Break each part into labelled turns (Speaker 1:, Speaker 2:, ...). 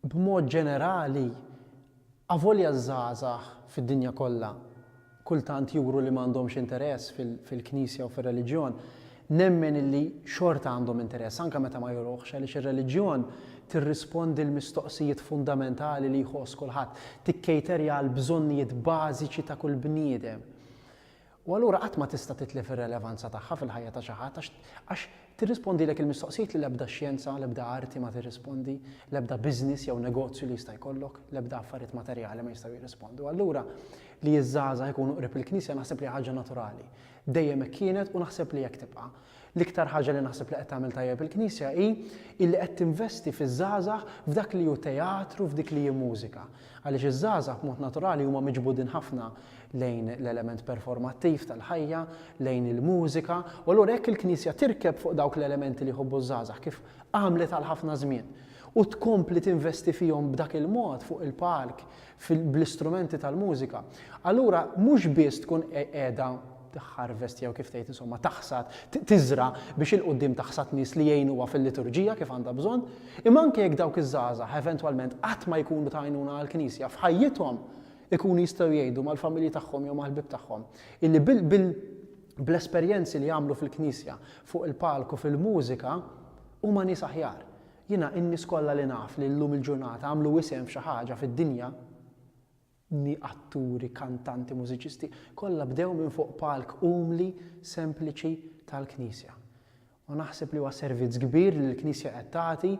Speaker 1: B'mod ġenerali, avolja ż-żgħażagħ fid-dinja kollha kultant juru li ma għandhomx interess fil-Knisja u fir-reliġjon, nemmen li xorta għandhom interess, anke meta ma juruhx, għaliex ir-reliġjon tirrispondi l-mistoqsijiet fundamentali li jħoss kulħadd, tikkejterja għall-bżonnijiet bażiċi ta' kull bniedem. U allura qatt ma tista' titlef ir-relevanza tagħha fil-ħajja ta' xi ħadd għax tirrispondilek il-mistoqsijiet li l-ebda xjenza, l-ebda arti ma tirrispondi, l-ebda business jew negozju li jista' jkollok, l-ebda affarijiet materjali ma jistgħu jirrispondu. Allura li ż-żgħażagħ ikunu qrib il-Knisja naħseb li hija ħaġa naturali. Dejjem hekk kienet u naħseb li hekk tibqa'. L-iktar ħaġa li naħseb li qed tagħmel tajjeb il-Knisja hi illi qed tinvesti fiż-żgħażagħ f'dak li hu teatru f'dik li hi mużika. Għaliex iż-żgħażagħ b'mod naturali huma miġbudin ħafna lejn l-element performattiv tal-ħajja, lejn il-mużika, u allura jekk il-Knisja tirkeb fuq dawk l-elementi li jħobbu ż-żgħażagħ kif għamlet għal ħafna żmien u tkompli tinvesti fihom b'dak il-mod fuq il-palk bl-istrumenti tal-mużika, allura mhux biss tkun qiegħda tħarvest jew kif tgħid insomma taħsad, tiżra biex il-qudiem taħsad nies li jgħinuha fil-liturġija kif għandha bżonn, imma anke jekk dawk iż-żgħażagħ eventwalment qatt ma jkunu ta' għajnuna għall-Knisja f'ħajjithom ikunu jistgħu jgħidu mal-familji tagħhom jew mal-ħbieb tagħhom illi bil bl-esperjenzi li jagħmlu fil-Knisja fuq il-palku fil-mużika huma nies aħjar. Jiena in-nies kollha li naf li llum il-ġurnata għamlu isem f'xi ħaġa fid-dinja, nni atturi, kantanti, mużiċisti, kollha bdew minn fuq palk umli, sempliċi tal-Knisja. U naħseb li huwa servizz kbir li l-Knisja qed tagħti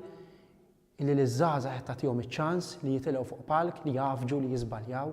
Speaker 1: illi liż-żgħażagħ qed tagħtihom iċ-ċans li jitilgħu fuq palk, li jgħaffġu, li jiżbaljaw.